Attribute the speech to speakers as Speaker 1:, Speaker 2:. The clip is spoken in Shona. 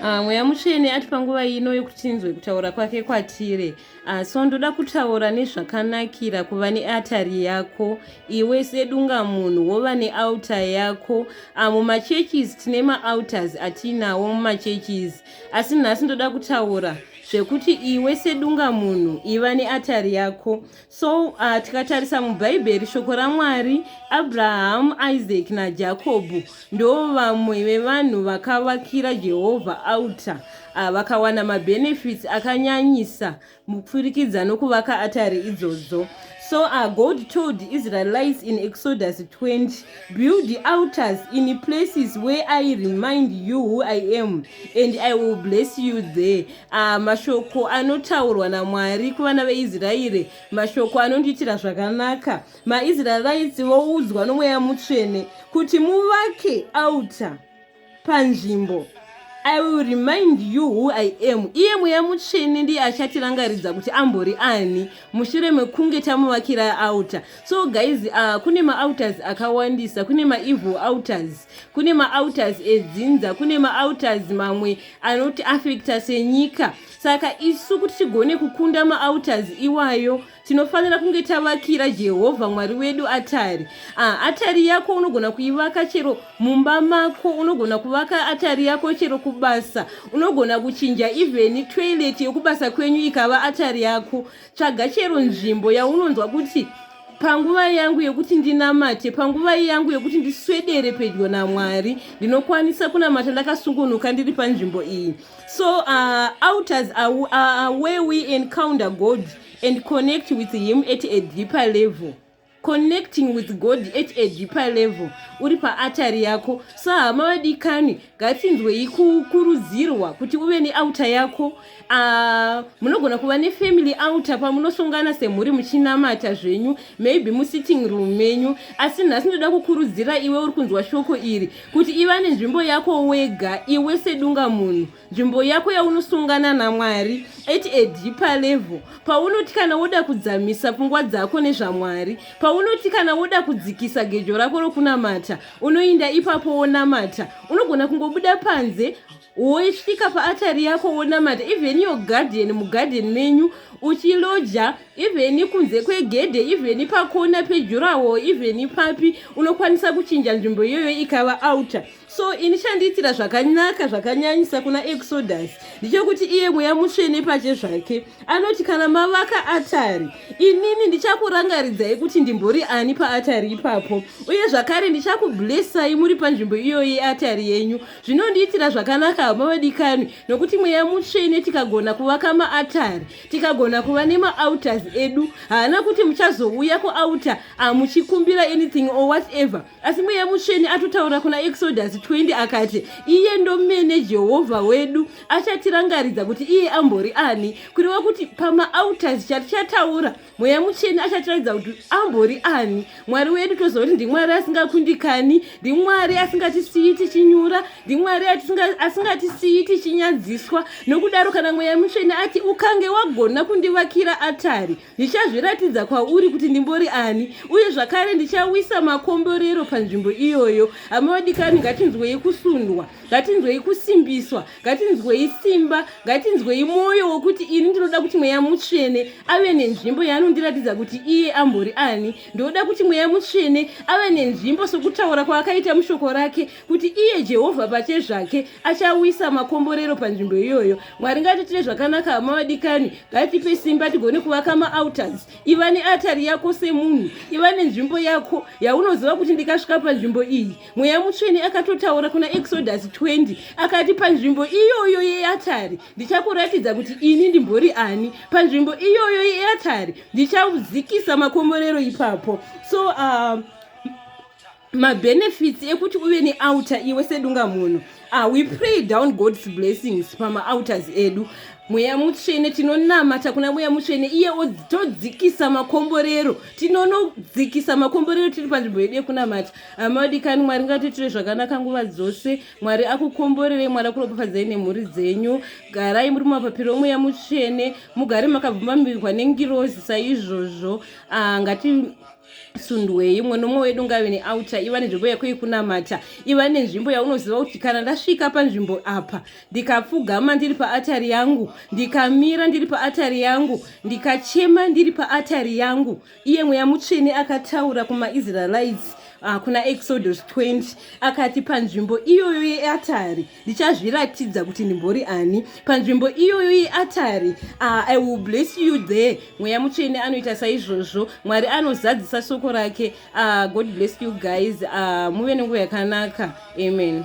Speaker 1: Ah, mweya mutsvene ati panguva ino yokuti tinzwe kutaura kwake kwatiri ah, so ndoda kutaura nezvakanakira kuva neatari yako iwe sedunga munhu wova neauta yako ah, mumachurches tine maauters atiinawo mumachurches asi nhasi ndoda kutaura zvekuti iwe sedunga munhu iva neatari yako so uh, tikatarisa mubhaibheri shoko ramwari abrahamu isaac najakobho ndo vamwe vevanhu vakavakira jehovha alta uh, vakawana mabenefits akanyanyisa mupfurikidza nokuvaka atari idzodzo so uh, god told israelites in exodus 20 build the altars in places where i remind you who i am and i will bless you there Ah, mashoko anotaurwa namwari kuvana veisraeri mashoko anondiitira zvakanaka maisraerites voudzwa nomweya mutsvene kuti muvake outer panzvimbo i will remind you who i am iye mweya mutsvene ndiye achatirangaridza kuti ambori ani mushure mekunge tamuvakira outer so guys uh, kune maouters akawandisa kune maevil outers kune maaltars edzinza kune maaltars mamwe anoti affecta senyika saka isu kuti tigone kukunda maaltars iwayo tinofanira kunge tavakira jehovha mwari wedu atari ah, atari yako unogona kuivaka chero mumba mako unogona kuvaka atari yako chero kubasa unogona kuchinja even toilet yekubasa kwenyu ikava atari yako Tsvaga chero nzvimbo yaunonzwa kuti panguva yangu yekuti ndinamate panguva yangu yekuti ndiswedere pedyo namwari ndinokwanisa kunamata ndakasungunuka ndiri panzvimbo iyi so uh, outers are, uh, where we encounter god and connect with him at a deeper level connecting with god at a deeper level uri paatari yako so hama vadikani ngatsinzwei kukurudzirwa kuti uve neauta yako uh, munogona kuva nefamily outa pamunosongana semhuri muchinamata zvenyu maybe musitting room menyu asi nhasi ndoda kukurudzira iwe uri kunzwa shoko iri kuti iva nenzvimbo yako wega iwe sedunga munhu nzvimbo yako yaunosungana namwari at a deeper level paunoti kana woda kudzamisa pfungwa dzako nezvamwari paunoti kana woda kudzikisa gejo rako rokunamata unoinda ipapo wonamata unogona kungobuda panze woisvika paatari yako wonamata even your garden mugarden menyu uchiloja even kunze kwegedhe even pakona pejurawo even papi unokwanisa kuchinja nzvimbo iyoyo ikava outer so ini chandiitira zvakanaka zvakanyanyisa kuna exodus ndichokuti iye mweya mutsvene pache zvake anoti kana mavaka atari inini ndichakurangaridzai kuti ndimbori ani paatari ipapo uye zvakare ndichakublessai muri panzvimbo iyoyi yeatari yenyu zvinondiitira zvakanaka hama vadikanwi nokuti mweya mutsvene tikagona kuvaka maatari tikagona kuva nemaauters edu haana kuti muchazouya kuauta amuchikumbira anything or whatever asi mweya mutsvene atotaura kuna exodus 20 akati iye ndomene jehovha wedu achatirangaridza kuti iye ambori ani kureva kuti pamaauters chatichataura mweya mutsvene achatiratidza kuti ambori ani mwari wedu toziva kuti ndimwari asingakundikani ndimwari asingatisiyi tichinyura ndimwari asingatisiyi tichinyadziswa nokudaro kana mweya mutsvene ati ukange wagona kundivakira atari ndichazviratidza kwauri kuti ndimbori ani uye zvakare ndichawisa makomborero panzvimbo iyoyo hama vadikani ngatinzwei kusundwa ngatinzwei kusimbiswa ngatinzwei simba ngatinzwei mwoyo wokuti ini ndinoda kuti mweya mutsvene ave nenzvimbo yaanondiratidza kuti iye ambori ani ndinoda kuti mweya mutsvene ave nenzvimbo sokutaura kwaakaita mushoko rake kuti iye jehovha pachezvake achauyisa makomborero panzvimbo iyoyo mwari ngatiitire zvakanaka hama vadikani ngatipe simba tigone kuvaka maautars iva neatari yako semunhu iva nenzvimbo yako yaunoziva kuti ndikasvika panzvimbo iyi mweya mutsvene akatotaura kuna exodus 20 akati panzvimbo iyoyo yeatari ndichakuratidza kuti ini ndimbori ani panzvimbo iyoyo yeatari ndichaudzikisa makomborero ipapo so uh, mabenefits ekuti uve neouter iwe sedunga munhu ah, we pray down god's blessings pamaauters edu mweya mutsvene tinonamata kuna mweya mutsvene iye todzikisa makomborero tinonodzikisa makomborero tiri panzvimbo yedu yekunamata amaodikani ah, mwari ngatoitire zvakanaka nguva dzose mwari akukomborerei mwari akuropafadzai nemhuri dzenyu garai muri mumapapiro omweya mutsvene mugare makabvumamirwa nengirozi saizvozvo ah, ngati sundwei mumwe nomwe wedu ngave neaucha iva nenzvimbo yako yekunamata iva nenzvimbo yaunoziva kuti kana ndasvika panzvimbo apa ndikapfugama ndiri paatari yangu ndikamira ndiri paatari yangu ndikachema ndiri paatari yangu iye mweya mutsvene akataura kumaisraelites uh, kuna exodus 20 akati panzvimbo iyoyo yeatari ndichazviratidza kuti ndimbori ani panzvimbo iyoyo yeatari ah, i will bless you there mweya mutsvene anoita saizvozvo mwari anozadzisa soko rake ah, god bless you guys ah, muve nenguva yakanaka amen